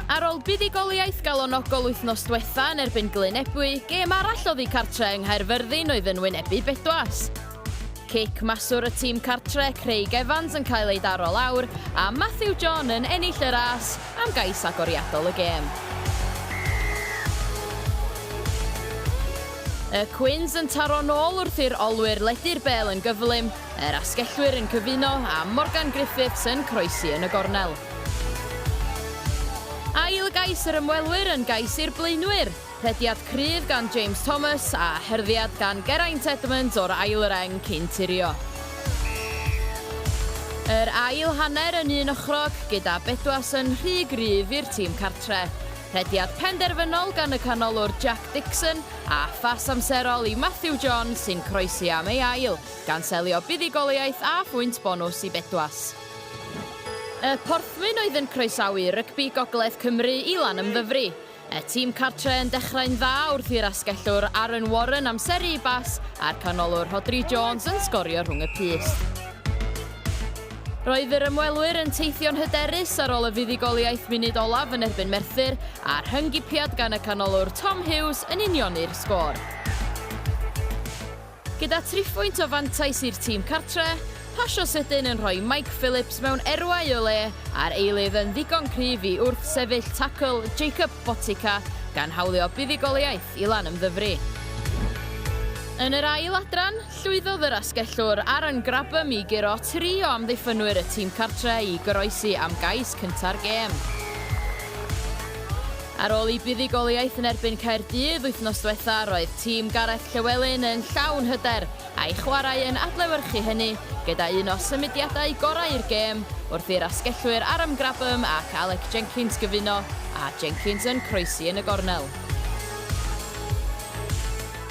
Ar ôl buddugoliaeth galonogol wythnos diwetha yn erbyn Glyn Ebwy, gêm arall oddi cartre yng Nghaerfyrddin oedd yn wynebu Bedwas. Cic maswr y tîm cartre, Craig Evans yn cael ei daro lawr, a Matthew John yn ennill y ras am gais agoriadol y gêm. Y Quins yn taro nôl wrth i'r olwyr ledu'r bel yn gyflym, Yr asgellwyr yn cyfuno a Morgan Griffiths yn croesi yn y gornel. Ail gais yr ymwelwyr yn gais i'r blaenwyr. Rhediad cryf gan James Thomas a hyrddiad gan Geraint Edmunds o'r ail reng cyn tirio. Yr ail hanner yn un ochrog gyda Bedwas yn rhy gryf i'r tîm cartre. Rhediad penderfynol gan y canolwr Jack Dixon a phas amserol i Matthew John sy'n croesi am ei ail. gan selio buddugoliaeth a phwynt bonws i Bedwas. Y Porthwyn oedd yn croesawu rygbi gogledd Cymru i Lanymddyfri. Y tîm cartre yn dechrau'n dda wrth i'r asgellwr Aaron Warren amseru i Bass a'r canolwr Rhodri Jones yn sgorio rhwng y pyst. Roedd yr ymwelwyr yn teithio'n hyderus ar ôl y fuddugoliaeth munud olaf yn erbyn Merthyr a'r hyngipiad gan y canolwr Tom Hughes yn unioni'r sgôr. Gyda thriphwynt o fantais i'r tîm cartre, pasio sydyn yn rhoi Mike Phillips mewn erwau o le a'r eilydd yn ddigon cryf i wrthsefyll tacl Jakub Botica gan hawlio buddugoliaeth i Lanymddyfri. Yn yr ail adran, llwyddodd yr asgellwr Aaron Grabham i guro tri o amddiffynwyr y tîm cartre i goroesi am gais cynta'r gêm. Ar ôl i buddugoliaeth yn erbyn Caerdydd wythnos dwetha roedd tîm Gareth Llewelyn yn llawn hyder a'i chwarae yn adlewyrchu hynny gyda un o symudiadau gorau'r gêm wrth i'r asgellwyr Aram Grabham ac Alec Jenkins gyfuno a Jenkins yn croesi yn y gornel.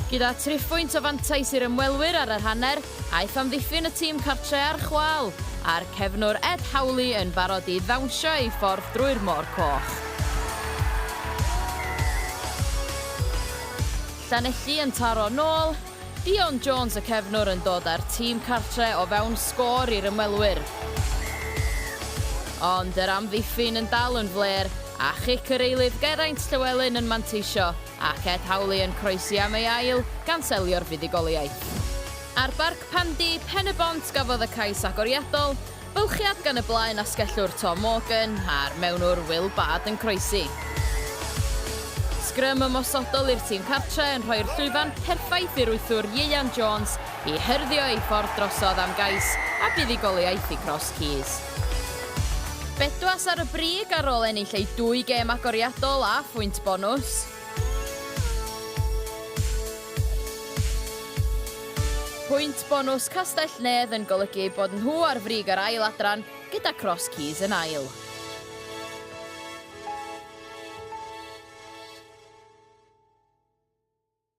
Gyda thriphwynt o fantais i'r ymwelwyr ar yr hanner, Aeth amddiffyn y tîm cartre a'r chwâl, a'r cefnwr Ed Howley yn barod i ddawnsio ei ffordd drwy'r Môr Coch. Llanelli yn taro nôl, Dion Jones y cefnwr yn dod â'r tîm cartre o fewn sgôr i'r ymwelwyr. Ond yr amddiffyn yn dal yn flêr, a chic yr eilydd Geraint Llewelyn yn manteisio. Ac Ed Howley yn croesi am ei ail, gan selio'r fuddugoliaeth. Ar Barc Pandy, Pen-y-bont gafodd y cais agoriadol, bylchiad gan y blaen asgellwr Tom Morgan a'r mewnwr Will Bard yn croesi. Sgrym ymosodol i'r tîm cartre yn rhoi'r llwyfan perffaith i'r wythwr Ieuan Jones i hyrddio ei ffordd drosodd am gais a buddugoliaeth i Cross Keys. Bedwas ar y brig ar ôl ennill eu dwy gêm agoriadol a phwynt bonws. Pwynt bonws Castell-nedd yn golygu eu bod nhw ar frig yr ail adran gyda Cross Keys yn ail.